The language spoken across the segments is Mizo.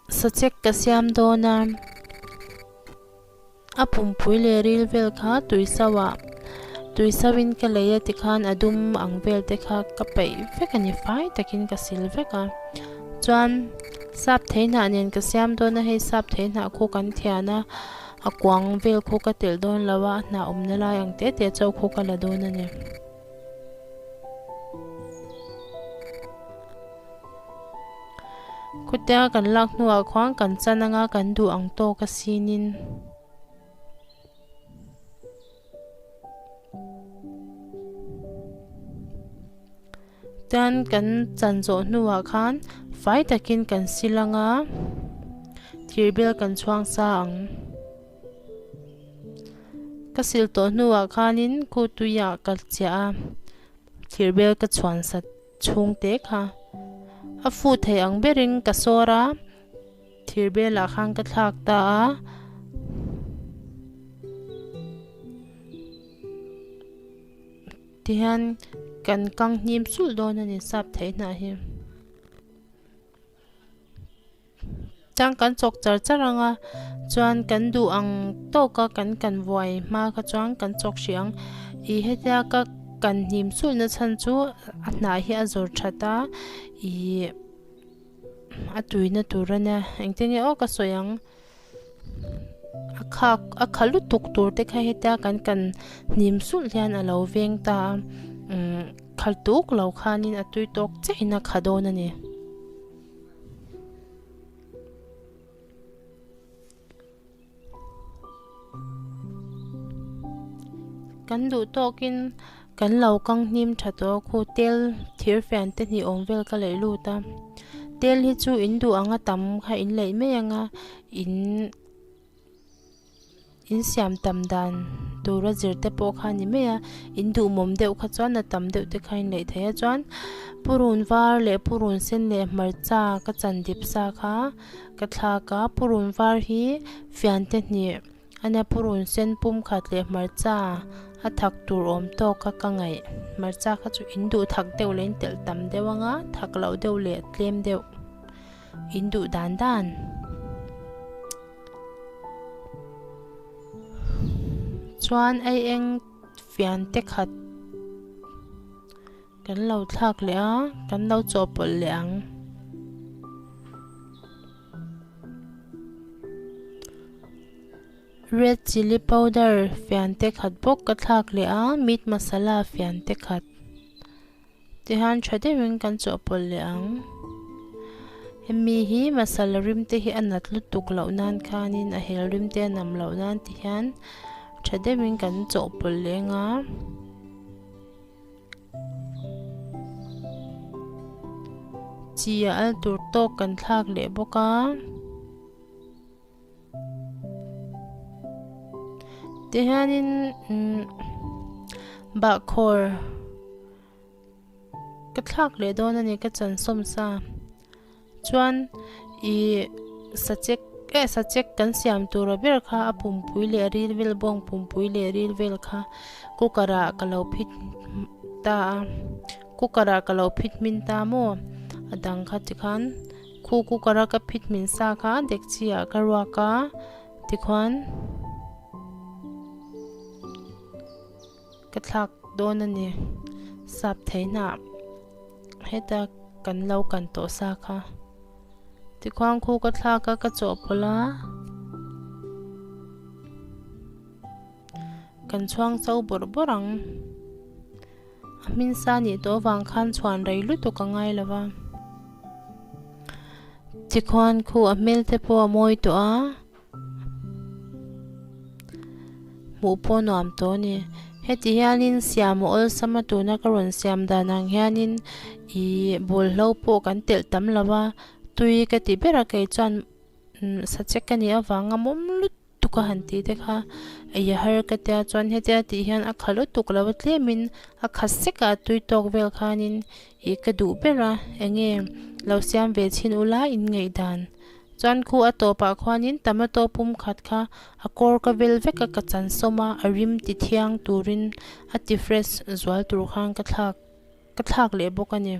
Sachek ka siam dawn a, a pumpui leh ril vel kha tui sauh a, tui sauh in ka lei a ti khan a dum ang vel te kha ka peih vek a ni, fai tak in ka sil vek a, chuan sap thei hnah nen ka siam dawn a, hei sap thei hnah khu kan thian a, a kuang vel khu ka telh dawn lo a, a hnah awmna lai ang tete chauh khu ka la dawn a ni. Khutia kan lak hnuah khuang kan chan anga kan duh ang tawk asinin. Chuan kan chan zawh hnuah khan fai takin kan sil anga thirbel kan chhuang sa ang. Ka silh tawh hnuah khanin kut tuiah ka chiah a, thlir bel ka chhuansa chhung te kha. A fu thei ang berin ka sawr a, thlir belah khan ka thlak ta a. Tihian kan kang hnim sulh dawn a ni sap theih hnah hi. Chuan kan chawk char char ang a, chuan kan duh ang tawk a, kan kan vuai hma kha chuan kan chawk hrih ang. Ih hetia ka kan hnim suih na chhan chu a hnah hi a zawr that a, ih a tui na tur a nia. Engte nge aw ka sawi ang, a khak a kha lutuk tur te kha hetia kan kan hnim sulh hian a lo veng ta a, umm khal tuk lo khanin a tui tawk che in a kha dawn a ni. Kan duh tawkin kan lo kang hnim tha tawh a khu tel thir fian te hnih awm vel ka leh lut a tel hi chu in duh anga tam kha in leih mai anga in-- In siam tam dan tura zir te pawh kha a ni mai a, in duh mawm deuh kha chuan a tam deuh te kha in leih thei a chuan purun var leh purun sen leh hmarcha ka chan dip sa kha ka thlak a, purun var hi fian te hnih a nia purun sen pum khat leh hmarcha a thak tur awm tawk kha ka ngaih, hmarcha kha chu in duh thak deuh leh in telh tam deuh anga thak loh deuh leh tlem deuh. In duh dan dan chuan ei eng fian te khat kan lo thlak leh a, kan lo chawhpawlh leh ang. Red chilli powder fian te khat bawk ka thlak leh a, meat masala fian te khat. Tihan tha deuhin kan chawhpawlh leh ang. Hemi hi masala rimte hi a nat lutuk loh nan khanin a hel rimte a nam loh nan ti hian tha deuhin kan chawhpawlh leh anga. Chi a al tur tawk kan thlak leh bawk a. Tihianin bahkhawr ka thlak leh dawn a ni ka chansom sa chuan i sachek eh sachek kan siam tura ber kha a pumpui leh ril vel bawng pumpui leh ril vel kha cooker ah ka lo phit ta a cooker ah ka lo phit hmin ta maw a dang kha tikhan-- Khu cooker a ka phit hmin sa kha dekchi ah ka ruak a, tikhuan ka thlak dawn a ni. Sap thei hna heta kan lo kan tawh sa kha. Tikhuan khu ka thlak a, ka chawhpawlh a, kan chhuang chau bawrh bawrh ang. A hminsa nih tawh vang khan chhuan rei lutuk a ngai lo va. Chikhuan khu a hmel te pawh a mawi tawh a. Hmuh pawh nuam tawh a ni. Heti hianin siam a awlsama tuna ka rawn siam dan ang hianin ih bawlhlo pawh kan telh tam lo va. Tui ka ti ber a kei chuan umm sa che ka nih avanga mawm lut. Tuk a han tih te kha a ia har ka tia chuan hetia tih hian a kha lutuk lo tlemin a kha seka a tui tawk vel khanin ih ka duh ber a enge lo siam ve chhin ula inngaih dan chuan khu a tawpah khuanin tomato pum khat kha a kawr ka vel vek a ka chansawm a a rim ti thiang turin a ti fresh zual tur khan ka thlak Ka thlak leh bawk a ni.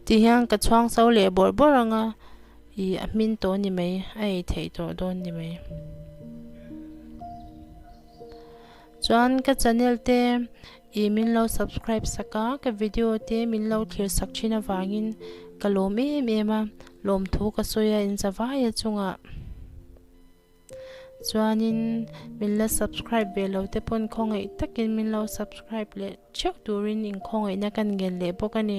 Ti hian ka chhuang so leh bawrh bawrh ang a, ih a hmin tawh ni mai, a ei theih tawh dawn ni mai. Chuan ka channel te ih min lo subscribe sak a, ka video te min lo thlir sak thin avangin ka lawm em em a, lawmthu ka sawi a inzavai a chungah. Chuanin min la subscribe ve lo te pawn khawngaih takin min lo subscribe leh theuh turin inkhawngaihtna ka ngel leh bawk a ni.